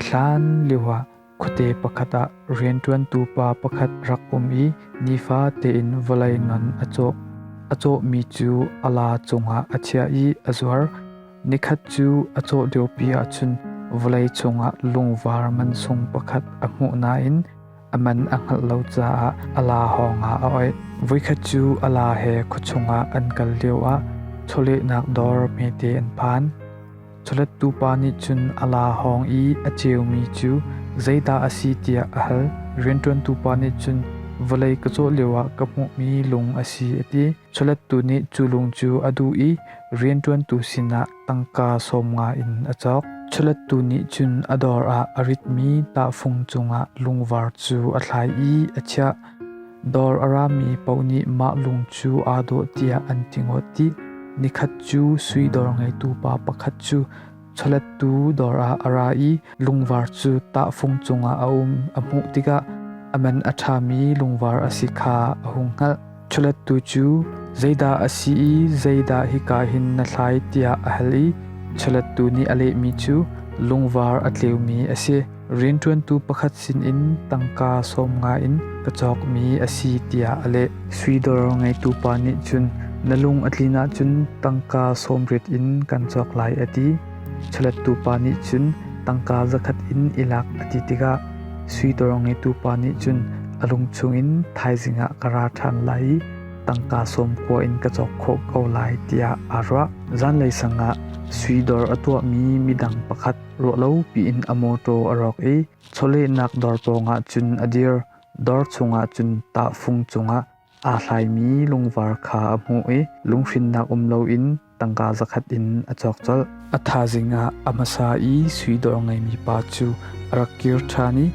Hlan lioah khuate pakhat ah rianṭuantu pa pakhat rak um i nifa tein vawlei ngan a cawh. A cawhmi cu a la cungah a chiah i a zuar. Nikhat cu a cawh deuhpi ahcun vawlei chungah lungvar mansung pakhat a hmuh nain a man a hngalh lo caah a la hawngah a oih. Voikhat cu a la he khuachungah an kal lioah chawlehnak dawr hmete an phan. Chawlettu pa nih cun a la hawng i a ceumi cu zeidah a si tiah a hal. Rianṭuantu pa nih cun vawlei ka cawh lioah ka hmuhmi lung a si a ti. Chawlettu nih cu lung cu a duh i rianṭuantu sinah Tangka sawmnga in a cawk. Culettu nih cun a dawr ah a ritmi tahfung cungah lungvar cu a thlai i a chiah. Dawr a rami paoh nih mah lung cu aa dawh tiah an ti ngawt dih. Nikhat cu sui dawr ngeitu pa pakhat cu chawlettu dawr ah a ra i lungvar cu tahfung cungah a um a hmuh tikah a man a ṭhami lungvar a si kha a hung hngalh. Ṭhulettu cu zeidah a si i zeidah hika hin na thlai tiah a hal i ṭhulettu nih a lehmi cu lungvar a tleumi a si. Rianṭuantu pakhat sinin tangka sawm nga in ka cawkmi a si tiah a leh. Suidor ngeitu pa nih cun na lung a tlin ahcun tangka sawm rit in kan cawk lai a ti. Chalettu pa nih cun tangka zakhat in i lak a ti tikah suitor ngetu pa nih cun a lung chungin thaizing ah ka ra ṭhan lai i tangka sawmkua in ka cawk khawh ko lai tiah aa ruah. Zanlei sang ah suidor a tuahmi midang pakhat ruahlopi in a mawṭaw a rawk i chawlehnak dor pawngah cun a dir, dor chungah cun tahfung cungah. Aa hlaimi lungvar kha a hmuh i lunghrinnak um loin tangka zakhat in a cawk colh. A thazing ah a hmasa i sui dawr ngeimi pa cu a rak kir ṭhan i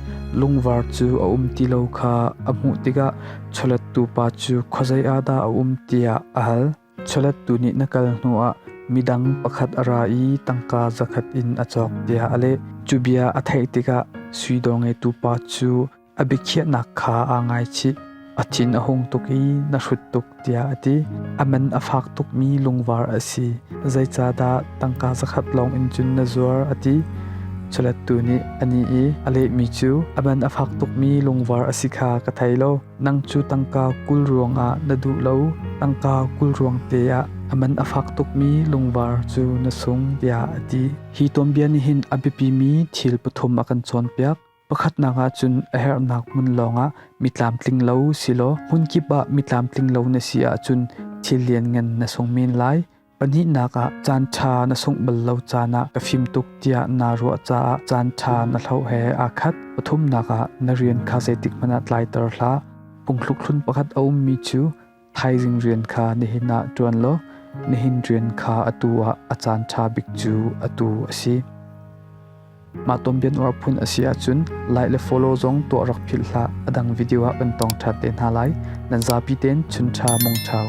lungvar cu a um ti lo kha a hmuh tikah chawlettu pa cu khuazei ah dah a um tiah a hal. Chawlettu nih na kal hnuah midang pakhat a ra i tangka zakhat in a cawk tiah a leh. Cu bia a theih tikah sui dawr ngeitu pa cu A biakhiahnak kha aa ngaichih. A thin a hung tuk i na hrut tuk tiah a ti. A man a fak tukmi lungvar a si. Zeicahdah tangka zakhat lawng in cun na zuar a ti. Culettu nih a ni i a lehmi cu a man a fak tukmi lungvar a si kha ka thei lo. Nang cu tangka kul ruangah na duh lo. Tangka kul ruang te ah a man a fak tukmi lungvar cu na sung tiah a ti. Hi tuanbia nih hin a biapimi thil pathum a kan cawnpiak. Pakhatnak ah cun a herhnak hmun lawngah mi tlamtling lo si law hmunkip ah mi tlamtling lo na si ahcun thil lianngan na sung men lai. Pahnihnak ah caan ṭha na sungh bal lo caan ah ka fim tuk tiah naa ruah caah caan ṭha na hloh he aa khat. Pathumnak ah na rian kha zeitik hmanh ah tlaiter hlah. Phungthlukhlun pakhat a ummi cu Thaizing rian kha nihin ah ṭuan law nihin rian kha atu ah a caan ṭha bik cu atu a si. Mah tonbianuar phun a si ahcun like le follow zong tuah rak philh hlah. A dang video ah kan tong ṭha te hna lai. Nan zapi ten chun ṭha mong ṭhau.